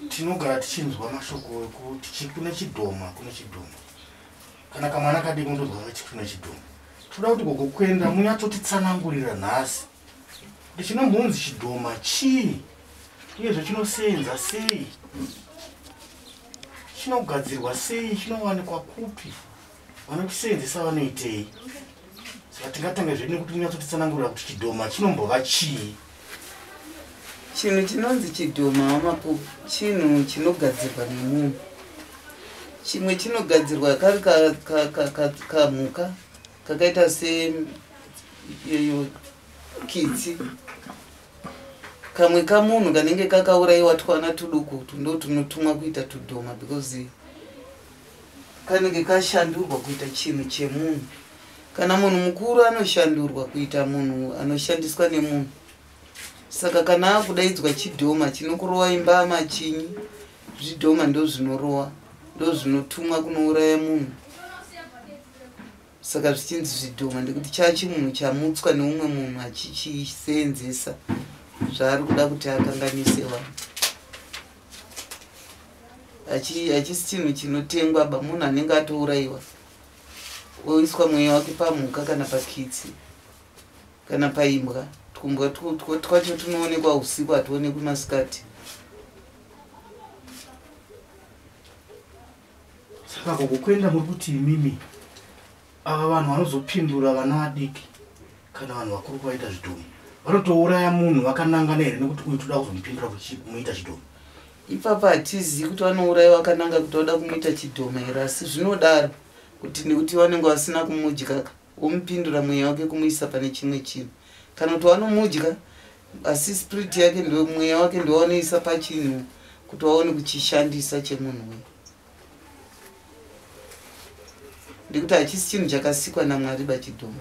tinogara tichinzwa mashoko ekuti kune chidhoma kune chidhoma kana kamwana kadii kunotozwa kuti kune chidhoma toda kuti gogo kuenda munyatsotitsanangurira nhasi kuti chinombonzi chidhoma chii uyezve chinoseenza sei chinogadzirwa sei chinowanikwa kupi vanotisevenzesa vanoitei saka tingatanga zvedu nekuti unyatsotitsanangurira kuti chidhoma chinombova chii chinhu chinonzi chidhoma wamako chinhu chinogadzirwa nemunhu chimwe chinogadzirwa kari kamhuka kakaita seyoyo kitsi kamwe kamunhu kanenge kakauraiwa twana tuduku tundo tunotumwa kuita tudhoma because kanenge kashandurwa kuita chinhu chemunhu kana munhu mukuru anoshandurwa kuita munhu anoshandiswa nemunhu saka kana akudaidzwa chidhoma chinokurowa imba amachinyi zvidhoma ndozvinorowa ndozvinotumwa kunouraya munhu saka zvichinzi zvidhoma ndekuti chachimunhu chamutswa neumwe munhu achichiseenzesa zvaari kuda kuti akanganise vanhu hachisi chinhu chinotengwa ba munhu anenge atourayiwa oiswa mweya wake pamhuka kana pakitsi kana paimbwa twumbwa twacho tunoonekwa usiku hatuonekwi masikati saka gogo kuenda muri kuti imimi ava vanhu vanozopindura vana vadiki kana vanhu vakuru kuvaita zvidhomu vanotouraya munhu vakanangana here nekuti uyu toda kuzomupindura kuti kumuita chidhomu ipapa hatizivi kuti vanouraya vakananga kuti vada kumuita chidhoma here asi zvinodaro kuti nekuti vanenge vasina kumudyaka womupindura mweya wake kumuisa pane chimwe chinhu kana kuti wanomudya asi spirit yake ndo mweya wake ndowanoisa pachinhu kuti waone kuchishandisa chemunhu uyu ndikuti hachisi chinhu chakasikwa namwari bachidhoma